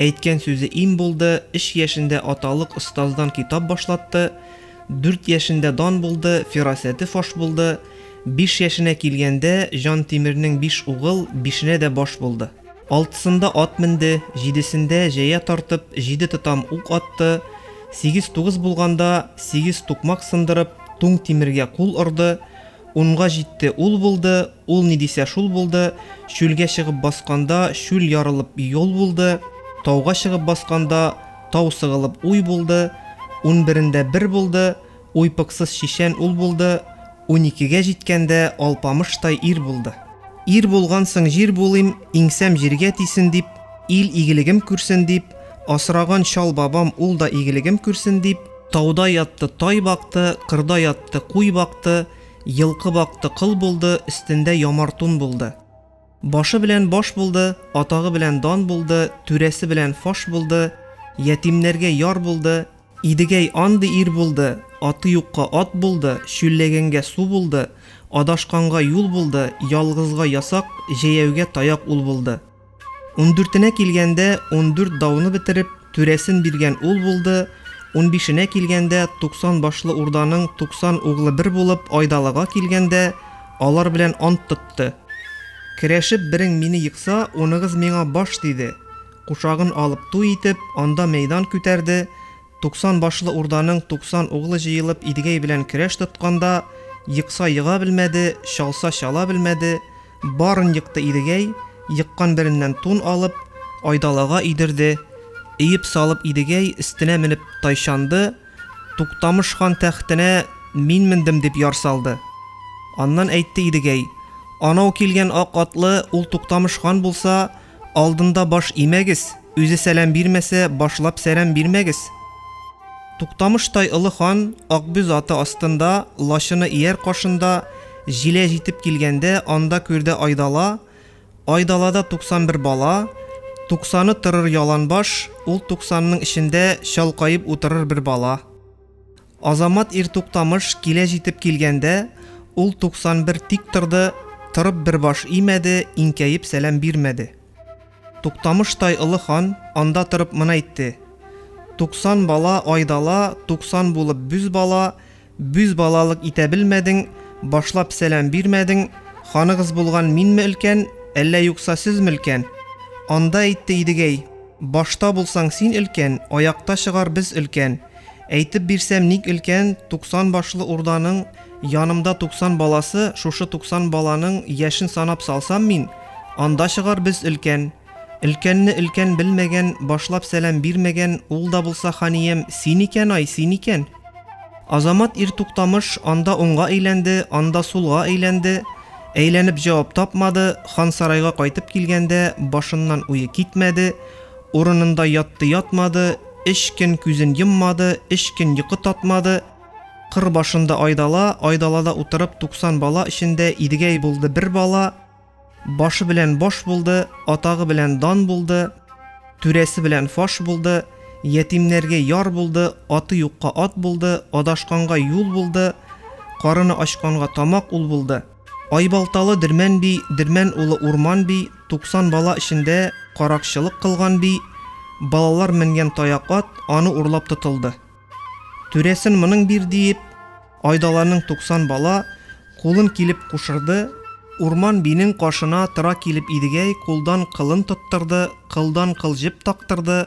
Әйткән сүзе им булды, өч яшендә аталык остаздан китап башлатты, дүрт яшендә дан булды, фирасәте фаш булды, биш яшенә килгәндә Җантимернең биш угыл, бишенә дә баш булды. Алтысында ат менде, җидесендә җәя тартып, җиде тотам ук атты, сигез-тугыз булганда, сигез тукмак сындырып, туң тимергә кул орды, Унга җитте, ул булды, Ул ни дисә, шул булды, Чүлгә чыгып басканда, Чүл ярылып юл булды, Тауга чыгып басканда, Тау сыгылып уй булды, Унберендә бер булды, Уйпыксыз чишән ул булды, Уникегә җиткәндә, Алпамыштай ир булды. Ир булгансың, җир булыйм, Иңсәм җиргә тисен дип, Ил игелегем күрсен дип, Асраган Чал бабам, Ул да игелегем күрсен дип, Тауда ятты, тай бакты, Кырда ятты, куй бакты, Елкы бакты, кыл булды, Өстендә ямар тун булды. Башы белән баш булды, Атагы белән дан булды, Түрәсе белән фаш булды, Ятимнәргә яр булды. Идегәй андый ир булды, Аты юкка ат булды, Чүлләгәнгә су булды, Адашканга юл булды, Ялгызга ясак, Җәяүгә таяк ул булды. Ундүртенә килгәндә, ундүрт дауны бетереп, түрәсен биргән ул булды, унбишенә килгәндә, туксан башлы урданың туксан углы бер булып Айдалыга килгәндә, алар белән ант тотты. Керәшеп берең мине екса, уныгыз миңа баш, диде. Кушагын алып туй итеп, анда мәйдан күтәрде, туксан башлы урданың туксан углы җыелып Идегәй белән көрәш тотканда, екса ега белмәде, чалса чала белмәде, Барын екты Идегәй, еккан береннән тун алып, айдалага өйдерде, өеп салып Идегәй өстенә менеп тайчанды, Туктамыш хан тәхтенә мин мендем дип яр салды. Аннан әйтте Идегәй, Анау килгән ак атлы ул Туктамыш хан булса, Алдында баш имәгез, Үзе сәлам бирмәсә, башлап сәрәм бирмәгез. Туктамыштай олы хан Акбүз аты астында, лачыны ияр кашында, җилә җитеп килгәндә, анда күрде айдала, айдалада туксан бер бала, туксаны торыр яланбаш, ул туксанның эчендә чалкаеп утырыр бер бала. Азамат ир Туктамыш килә җитеп килгәндә, ул 91 тик торды, торып бер баш имәде, иңкәеп сәлам бирмәде. Туктамыш тай Олы хан анда торып мына әйтте, Туксан бала айдала, туксан булып бүз бала, бүз балалык итә белмәдең, башлап сәлам бирмәдең, ханыгыз булган минме өлкән, әллә юкса сезме өлкән? Анда әйтте Идегәй, Башта булсаң син өлкән, аякта чыгар без өлкән. Әйтеп бирсәм, ник өлкән туксан башлы урданың янымда туксан баласы, шушы туксан баланың яшен санап салсам мин, анда чыгар без өлкән. Өлкәнне өлкән белмәгән, башлап сәлам бирмәгән, ул да булса ханиям, син икән ай, син икән! Азамат Иртуктамыш анда уңга әйләнде, анда сулга әйләнде, әйләнеп җавап тапмады, Хансарайга кайтып килгәндә башыннан уе китмәде, Урынында ятты-ятмады, Өч көн күзен йоммады, Өч көн йокы татмады. Кыр башында айдала, Айдалада утырып туксан бала Эчендә Идегәй булды бер бала. Башы белән баш булды, Атагы белән дан булды, Түрәсе белән фаш булды, Ятимнәргә яр булды, Аты юкка ат булды, Адашканга юл булды, Карыны ачканга тамак ул булды. Айбалталы Дермән би, Дермән улы Урман би, 90 бала эчендә каракчылык кылган би, балалар менгән таяк ат аны урлап тотылды. Түрәсен моның бир диеп, Айдаланың 90 бала кулын килеп кушырды, Урман бинең кашына тыра килеп Идегәй кулдан кылын тоттырды, кылдан кыл җеп тактырды,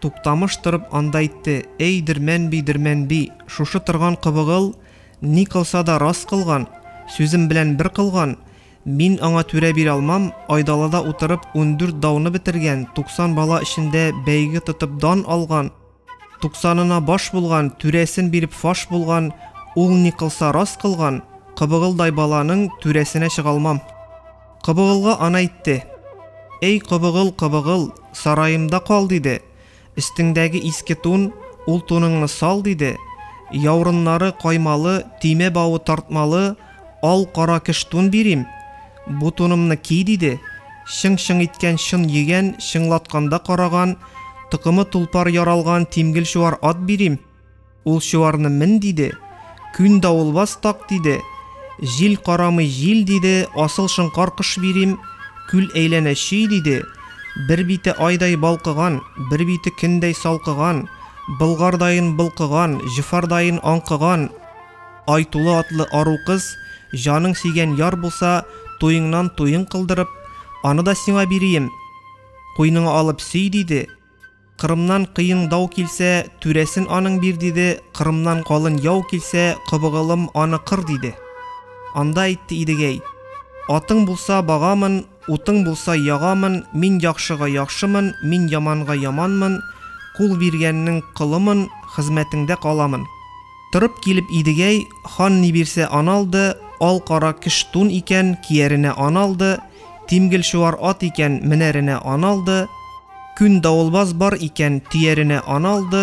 Туктамыш торып анда әйтте, Эй, Дермәнби, Дермәнби, шушы торган кыбыгыл ни кылса да рас кылган, сүзем белән бер кылган, мин аңа түрә бирә алмам, Айдалада утырып ундүрт дауны бетергән, туксан бала эчендә бәйге тотып дан алган, туксанына баш булган, түрәсен биреп фаш булган, ул ни кылса рас кылган, кыбыгылдай баланың түрәсенә чыга алмам. Кобыгылга ана әйтте, Эй, кобыгыл, кобыгыл, сараемда кал, диде, өстеңдәге иске тун, ул туныңны сал, диде, яурыннары каймалы, төймә бавы тартмалы ал-кара кыш тун бирим, бу тунымны ки, диде, чың-чың иткән чын йөгән, чыңлатканда караган, токымы тулпар яралган тимгел-чуар ат бирим. Ул чуарны мен диде, күн давылбаз так диде, җил карамый җил диде, асыл шыңкар кыш бирим, күл әйләнә чөй диде, бер бите айдай балкыган, бер бите көндәй салкыган, былгардайын былкыган, җөфардайын аңкыган, Айтулы атлы ару кыз, җаның сөйгән яр булса, туеңнан туең кылдырып, аны да сиңа бирием, куйныңа алып сөй диде. Кырымнан кыйың дау килсә, түрәсен аның бир диде, Кырымнан калын яу килсә, кобыгылым аны кыр диде. Анда әйтте Идегәй, Атың булса, багамын, утың булса, ягамын, мин яхшыга яхшымын, мин яманга яманмын, кул биргәннең колымын, хезмәтеңдә каламын. Торып килеп Идегәй хан ни бирсә аны алды, ал-кара кш тун икән, кияренә аны алды, тимгел-чуар ат икән, менәренә аны алды, күн давылбаз бар икән, төяренә аны алды,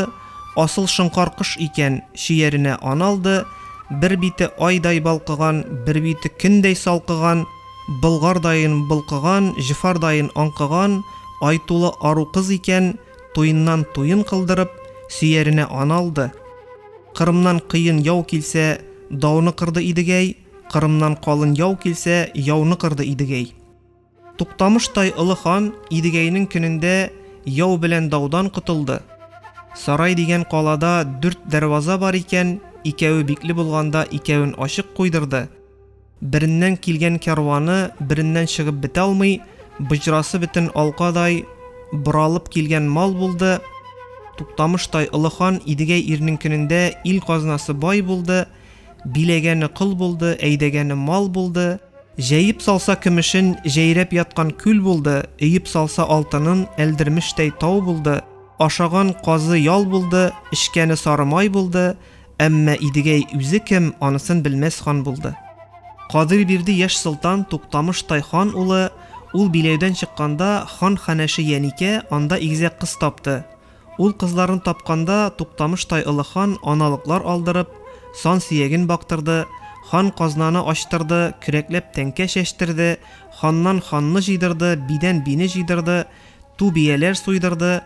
асыл шоңкар кош икән, чөяренә аны алды, бер бите айдай балкыган, бер бите көндәй салкыган, болгардаен болкыган, җфардаен аңкыган, ай тулы ару кыз икән, Туеннан туен кылдырып, сөяренә ан алды. Кырымнан кыен яу килсә, дауны кырды Идегәй, Кырымнан калын яу килсә, яуны кырды Идегәй. Туктамыштай олы хан Идегәйнең көнендә яу белән даудан котылды. Сарай дигән калада дүрт дәрваза бар икән, икәве бикле булганда икәвен ачык куйдырды. Береннән килгән кәрваны береннән чыгып бетә алмый, быҗрасы бөтен алкадай боралып килгән мал булды, Туктамыштай олы хан Идегәй ирнеңкенендә ил казнасы бай булды, биләгәне кол булды, әйдәгәне мал булды, җәеп салса көмешен җәйрәп яткан күл булды, өеп салса алтынын Әлдермештәй тау булды, ашаган казы ял булды, эчкәне сары май булды, Әмма Идегәй үзе кем, анысын белмәс хан булды. Кадыйрбирди яшь солтан Туктамыштай хан улы, ул биләүдән чыкканда, хан ханәше Яникә анда игезәк кыз тапты. Ул кызларны тапканда, Туктамыштай олы хан аналыклар алдырып, сан сөяген бактырды, хан казнаны ачтырды, көрәкләп тәңкә чәчтерде, ханнан ханны җыйдырды, бидән бине җыйдырды, Ту бияләр суйдырды,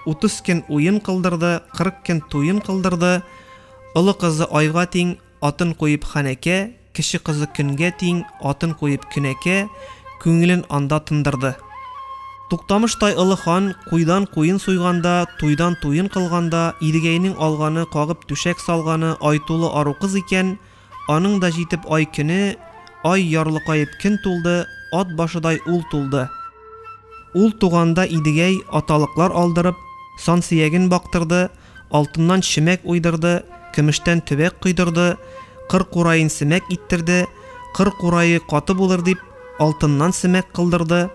Утыз көн уен кылдырды, Кырык көн туен кылдырды. Олы кызы айга тиң, Атын куеп ханәкә, Кече кызы көнгә тиң, Атын куеп көнәкә, Күңелен анда тындырды. Туктамыш тай Олы хан куйдан куен суйганда, Туйдан туен кылганда, Иргәйнең алганы, Кагып түшәк салганы, Айтулы ару кыз икән, Аның да җитеп ай көне, Ай ярлыкаеп кен тулды, Ат башыдай ул тулды. Ул туганда Идегәй аталыклар алдырып, сан сөяген бактырды, алтыннан чөмәк уйдырды, көмештән төбәк койдырды, кыр кураен семәк иттерде, кыр курае каты булыр дип, алтыннан семәк кылдырды,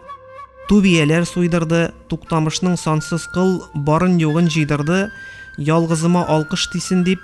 ту бияләр суйдырды, Туктамышның сансыз кыл барын-югын җыйдырды, ялгызыма алкыш тисен дип,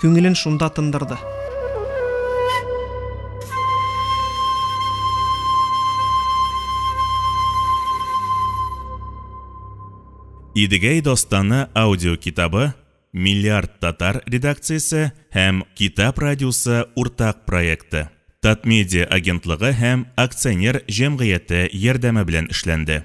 күңелен шунда тындырды. Идегәй достаны аудио китабы Миллиард татар редакциясе һәм Китап радиосы уртак проекты. Татмедиа агентлыгы һәм акционер җәмгыяте ярдәме белән эшләнде.